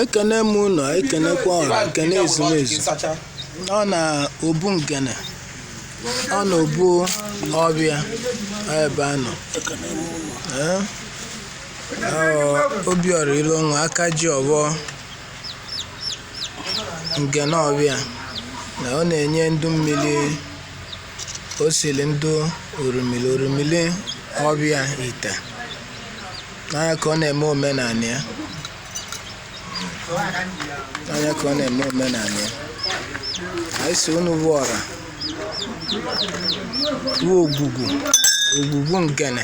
ekene m ụnọ ekenekwa ọra ekene ezumezu ọ na obu ngene ọ na obu ọvịa ebe a nọ Ee? Ọ, obiọra ilonwa aka ji ọvọ ngene ọvịa na ọ na-enye ndụ mmiri osili ndụ orimili orimili ọvịa ite n'anya ka ọ na-eme omenala ya anyị sị unu bụ ọra bụ ogwugwu ogwugwu ngene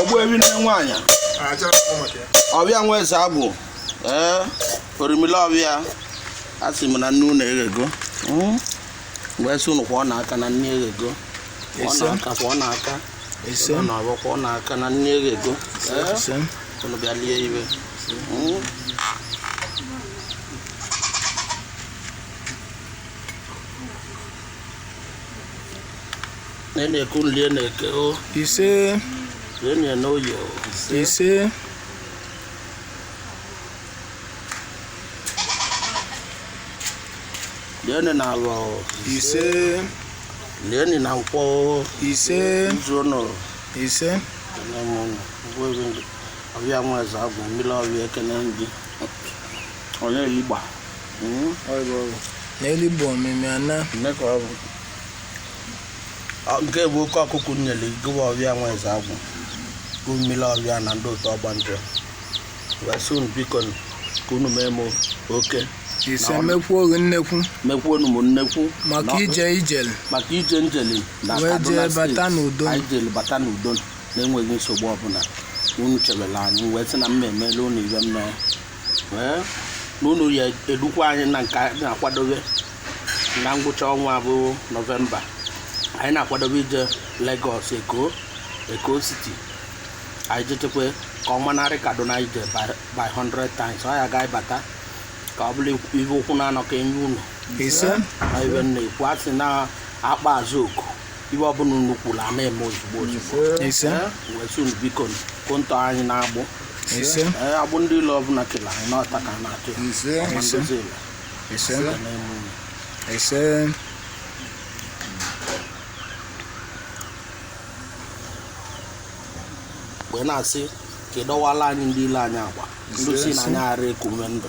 ogbuevi nne nwaanyị ọvịa nwa eze agwụ ee orimili ọvịa a sị m na nni unu eghego hmm? wee sị unu kwọọnụ aka na nni eghego kwọọnụ aka kwọọnụ aka na nni eghego unu bịa lie ive hmm? na eke unu lie na eke o ise lieni na oye o ise lieni na avọ o ise lieni na nkwọ o ise izu ụnụ ise nne m ụnụ ngwa ebe ndị ọvịa nwa eze agwụ mmiri ọvịa ekene gị onye igba n'elu bụ ọmịmị ana nke bụ oke ọkụkụ nyere gụwa ọvịa nwa eze agwụ bụ mmiri ọvịa na ndị otu ọgbanje wee sị unu biko ka unu mee m oke ise mekwu oge nnekwu mekwu unu m nnekwu maka ije m jele maka ije m jele na kaduna steeti anyị jere bata n'udo na-enweghị nsogbu ọbụla unu chebela anyị wee sị na m na-emela unu ive mmee ee na unu ya edukwa anyị na nke anyị na-akwadobe na ngwụcha ọnwa bụ nọvemba anyị na-akwadobe ije Lagos Eko Eko City anyị jechekwa ka ọ manarị Kaduna ije by 100 times anyị gaa bata ka ọ bụrụ ive ụkwụ na anọ ka e nye unu ise na ive m na-ekwu a sị na akpa azụ oku ive ọbụla unu kwuru a na-eme ozugbo ozugbo ise Eh, wee sị unu biko ka unu tọọ anyị n'agbụ ise Eh, agbụ ndị ilo ọbụla kele anyị n'ọta ka a na-atọ ya ise Ma ndozi ụlọ, ise ka na-eme unu. ise wee na-asị ka ị dọwala anyị ndị ilo anyị agba ndị sị na anyị ara eku ume ndụ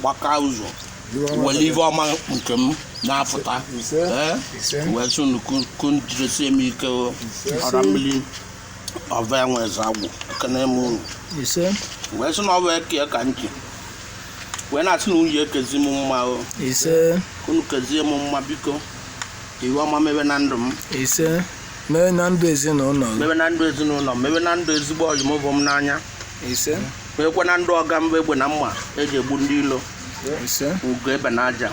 gbaka ụzọ wele ive ọma nke m na-afụta ee wee sị unu ka unu jidesie m ike o. ọra mmiri ọva enwe eze agwụ ekene m unu ise wee sị na ọ bụ eke ka m ji wee na-asị na unu ya-ekezi m mma o ise unu kezie m mma biko ive ọma mebe na ndụ m ise mee na ndụ ezinụlọ gị. mebe na ndụ ezinụlọ m mebe na ndụ ezigbo ọyị m vụ m n'anya ise ekwe na ndụ ọga m bụ egbe na mma eji egbu ndị ilo ugo ebe na aja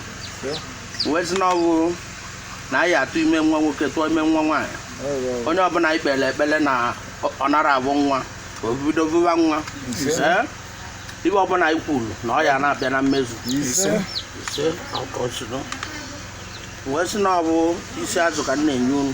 wee sị na ọ bụ na anyị atụ ime nwa nwoke tụọ ime nwa nwaanyị onye ọbụna anyị kpele ekpele na ọ nara abụ nwa o bido bụwa nwa Ee? ive ọbụna anyị kwulu na ọ ya na-abịa na mmezu ise ọkọchịrị wee sị na ọ bụ isi azụ ka m na-enye unu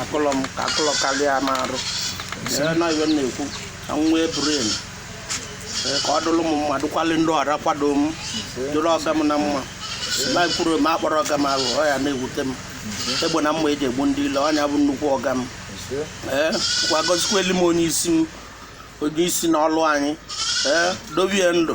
akụlọ m ka akụlọ karịa m arụ na ive m na-ekwu ka m nwee brain ka ọ dụlụ m mma dụkwalị ndị ọra kwado m dụrụ ọga m na mma maka ọ bụrụ m akpọrọ ọga m aha ọ ya na-ewute m egbe na mma eji egbu ndị ilo ọ nya bụ nnukwu ọga m ee kwa gọzikweli m onye isi m onye isi na ọlụ anyị ee dobie ndụ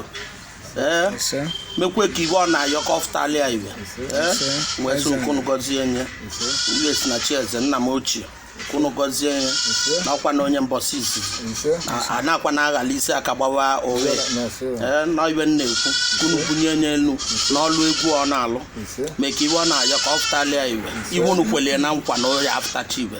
ee ise mekwe ka ive ọ na-ayọ ka ọ fụtali ya ive ee ise wee sị ka unu gọzie nye ise ive si na chieze nna m ochie ka unu gọzie nye ise nakwa na onye mbọsị izizi ise A- a na-akwa na aghala isi aka gbawa owe na-ese ya ee na ive m na-ekwu ka unu bunye nye enu n'ọlụ egwu ọ na-alụ ise mee ka ive ọ na-ayọ ka ọ fụtali ya ive ive unu kwelie na nkwa na ọ ya-afụtacha ive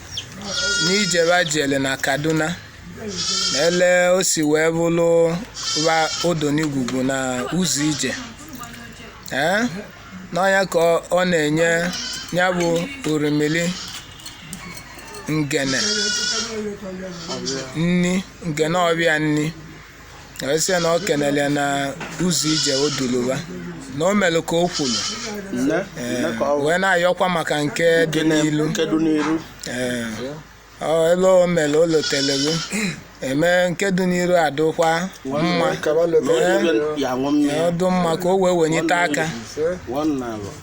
n'ije ba jele na kaduna na ele o si wee bụlụ ba odonigwugwu na ụzọ ije ee na ọ nya ka ọ- ọ na-enye ya bụ orimili ngene nni ngene ọbịa nni wee sị ya na ọ kenele ya na ụzọ ije o dulu ba na o melu ka o kwulu nne nne ka ọ wee na-ayọkwa maka nke dị n'ilu kedu n'iru Ee, ọ ele o melu o lotelego eme nke dị n'iru adụkwa mma kaba na lobe onye ya aṅụ mmiri ọdụ mma ka o wee wenyite aka one na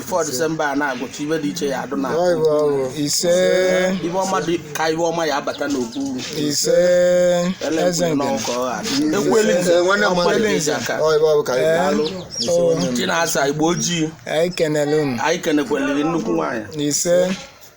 before December a na-agụcha ive dị iche ya adụ na ise ive ọma dị ka ive ọma ya abata n'okwu ise eze nke ekweli nze aka chinasa igbo ojii anyị kenekweliri nnukwu nwaanyị ise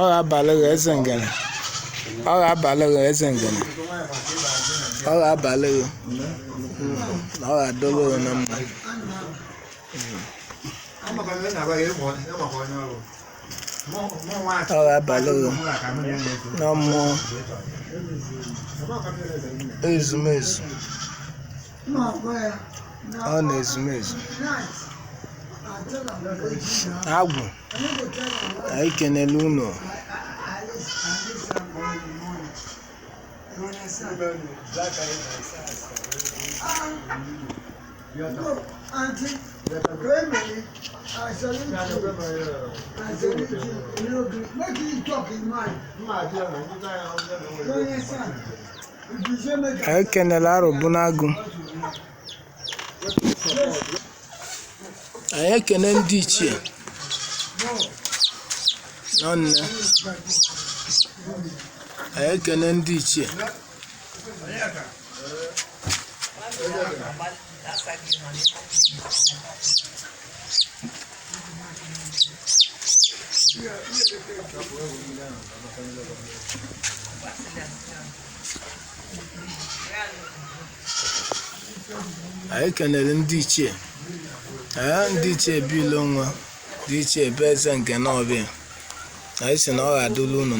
ọ ga-abalị gị eze ngene ọ ga-abalị gị eze ngene ọ ga-abalị gị ọ ga-adụlụ gị na mma ọ ga-abalị gị na mmụọ ezumezu ọ na-ezumezu agwụ anyị kenele unu Make you talk in mind. anyị kenele arọbụnagụ anyị ekene ndị ichie ụnọ nne anyị ekene ndị ichie anyị kenere ndị ichie ee ndị ichie be ilonwa ndị ichie be eze ngene ọbịa anyị sị na ọ ga-adụlụ unu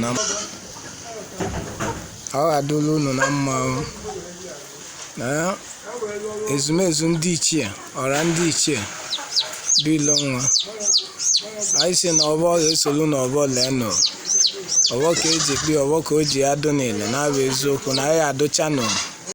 na mma o. na ezumezu ndị ichie ọra ndị ichie be ilonwa anyị sị na ọbọ ga-esolu na ọbọ leenụ ọbọ ka eji kpi ọbọ ka o ji adụ niile na-abụ eziokwu na anyị adụcha nụ